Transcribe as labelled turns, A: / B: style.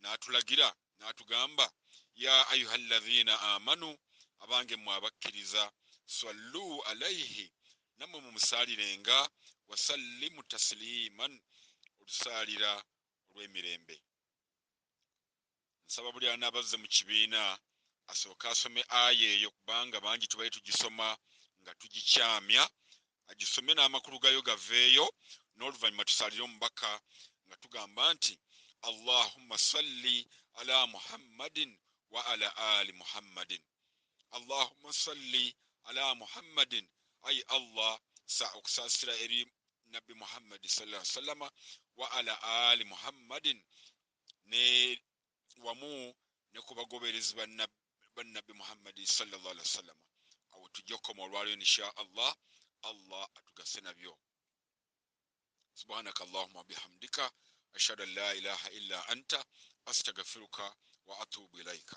A: n'atulagira n'atugamba ya ayuha llazina amanu abange mwe abakkiriza sallu alaihi nammwe mumusaalirenga wasallimu tasiliman olusaalira olw'emirembe nsaba buli anaabazze mu kibiina asooke asome aya eyo kubanga bangi tubale tugisoma nga tugikyamya agisome n'amakulu gayo gaveeyo n'oluvannyuma tusaalire omubaka nga tugamba nti allahumma salli ala muhammadin wa ala ali muhammadin allahumma salli ala muhammadin ayi allah sa okusaasira eri nabbi muhammadi sala sallama wa ala ali muhammadin ne wamu ne ku bagoberezi ba Nabbi Muhammadi sallallahu alaihi wasallama. Awo tujja kukoma olwaleero insha Allah, Allah atugase nabyo. Subhanaka Allahumma bihamdika ashhadu an la ilaha illa anta astaghfiruka wa atubu ilaika.